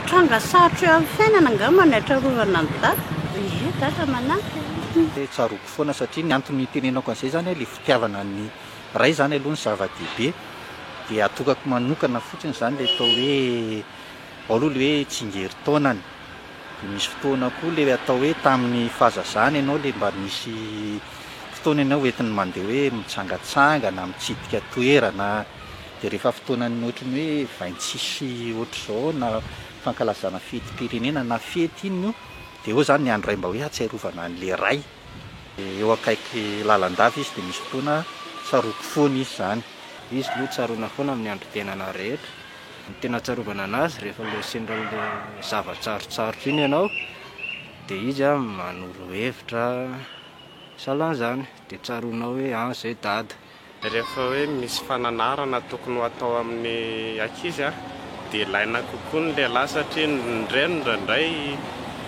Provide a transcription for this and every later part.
Tranga sarotra eo amin'ny fiainana angamba ny hatrarovana an'i Dada. Ie, Dada manampy e. Hoe tsaroako foana satria ny antony nitenenako an'izay izany ilay fitiavana ny Ray izany aloha no zava-dehibe dia atokako manokana fotsiny izany ilay atao hoe ao aloha ilay hoe tsingerin-taonany dia misy fotoana koa ilay atao hoe tamin'ny fahazazana ianao ilay mba nisy fotoana ianao hoentiny mandeha hoe mitsangatsangana, mitsidika toerana. Dia rehefa fotoanan'ny ohatran'ny hoe vaintsisy ohatr'izao na fankalazana fetim-pirenena na fety iny no dia eo izany ny andro iray mba hoe hahatsiarovana an'ilay Ray. Eo akaiky lalandava izy dia misy fotoana tsaroako foana izy izany. Izy aloha tsaroana foana amin'ny androm-piainana rehetra. Ny tena ahatsiarovana an'azy rehefa ilay sendra ilay zava-tsarotsarotra iny ianao dia izy manoro hevitra sahalan'izany dia tsaroanao hoe an izay dada. Rehefa hoe misy fananarana tokony ho atao amin'ny ankizy dia ilaina kokoa ny lehilahy satria ny reny indraindray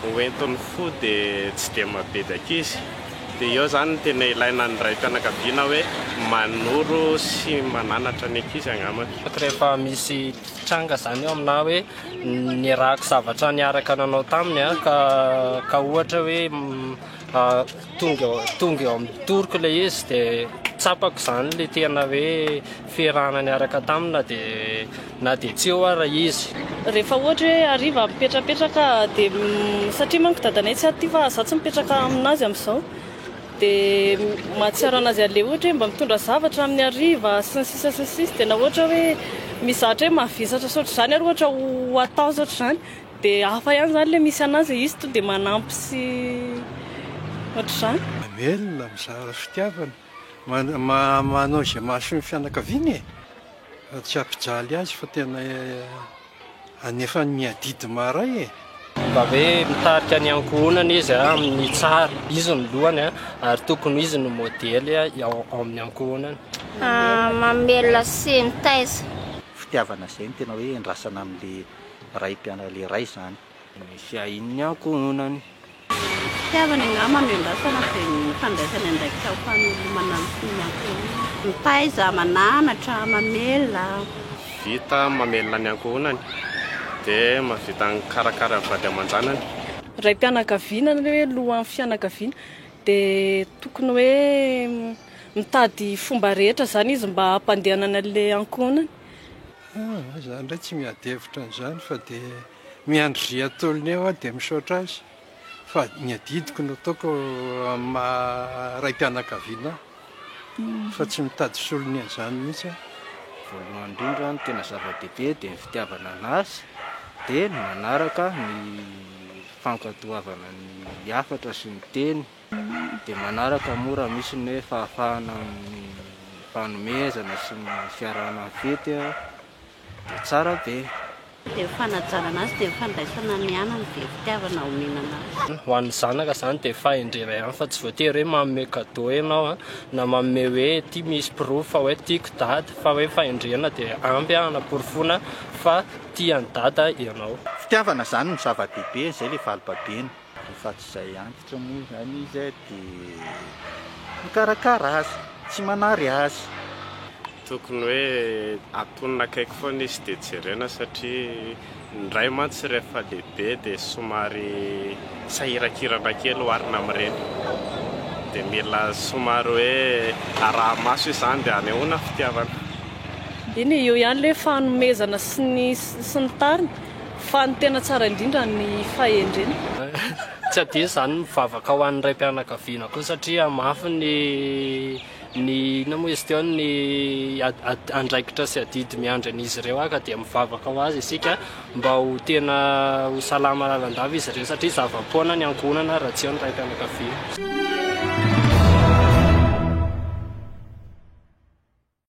hoentin'ny fo dia tsy dia mampibedy ankizy. Dia eo izany no tena ilaina ny raim-pianakaviana hoe manoro sy mananatra ny ankizy angamba. Rehefa misy tranga izany eo aminà hoe niarahako zavatra niaraka nanao taminy ka ohatra hoe Tonga tonga eo amin'ny toroko ilay izy dia tsapako izany ilay tena hoe fiarahana niaraka tamina dia na dia tsy eo ara izy. Rehefa ohatra hoe hariva mipetrapetraka dia mm, satria manko dadanay tsy aty fa za tsy mipetraka aminazy amin'izao dia mahatsiaro anazy an'ilay ohatra hoe mba mitondra zavatra amin'ny hariva sy ny sisa sy ny sisa dia na ohatra hoe mizatra hoe mavesatra saotra izany ary ohatra ho atao saotra izany Dia hafa ihany izany ilay misy an'azy e, izy tonga dia manampy sy ohatr'izany. Mamelona, mizara fitiavana, manao izay mahasoa ny fianakaviana e! Fa tsy hampijaly azy fa tena anefany miadidy maharay e! Mba hoe mitarika ny ankohonany izy amin'ny tsara, izy no lohany ary tokony ho izy no modely ao amin'ny ankohonany. Mamelona sy mitaiza. Fitiavana izay no tena hoe endrasana amin'ilay raim-pianarana iray izany. Misy ahian'ny ankohonany. Fitiavany angamba no iandrasana dia ny fandraisany andraikitra amin'ny famelomana ny fon'ny ankohonany. Mitaiza, mananatra, mamelona. Vita mamelona ny ankohonany dia mahavita mikarakara ny vady aman-janany. Raim-pianakaviana na hoe lohan'ny fianakaviana dia tokony hoe mitady fomba rehetra izany izy mba hampandehanany an'ilay ankohonany. Ah, izaho indray tsy miady hevitra an'izany fa dia miandry ry atôlney aho dia misaotra azy fa ny adidiko no ataoko amin'ny maha raim-pianakaviana ahy fa tsy mitady solony an'izany mihitsy aho. Voalohany indrindra ny tena zava-dehibe dia ny fitiavana an'Azy dia ny manaraka ny fankatoavana ny hafatra sy ny teny. Dia manaraka moa raha misy ny hoe fahafahana amin'ny fanomezana sy ny fiarahana ny fety dia tsara be. Dia ny fanajana azy dia ny fandraisana ny aina no be fitiavana omena anazy. Ho an'ny zanaka izany dia fahendrena ihany fa tsy voatery hoe manome cadeau ianao na manome hoe ity misy porofo fa hoe tiako dada fa hoe fahendrena dia ampy hanaporofoana fa tia an'i dada ianao. Fitiavana izany no zava-dehibe, izay ilay valibabena. Rehefa tsy izay antitra moa izany izy dia mikarakara azy, tsy manary azy. Tokony hoe atonina akaiky foana izy dia jerena satria ny ray mantsy rehefa lehibe dia somary sahiran-kirana kely oharina amin'ireny. Dia mila somary hoe araha-maso izany dia anehoana fitiavana. Eny e, eo ihany ilay fanomezana sy ny sy ny tariny. Fa ny tena tsara indrindra ny fahendrena. Tsy adino izany ny mivavaka ho an'ny raim-pianakaviana koa satria mafy ny ny inona moa izy teo ny andraikitra sy adidy miandry an'izy ireo ah ka dia mivavaka ho azy isika mba ho tena ho salama lalandava izy ireo satria zava-poana ny ankohonana raha tsy eo ny raim-pianakaviana.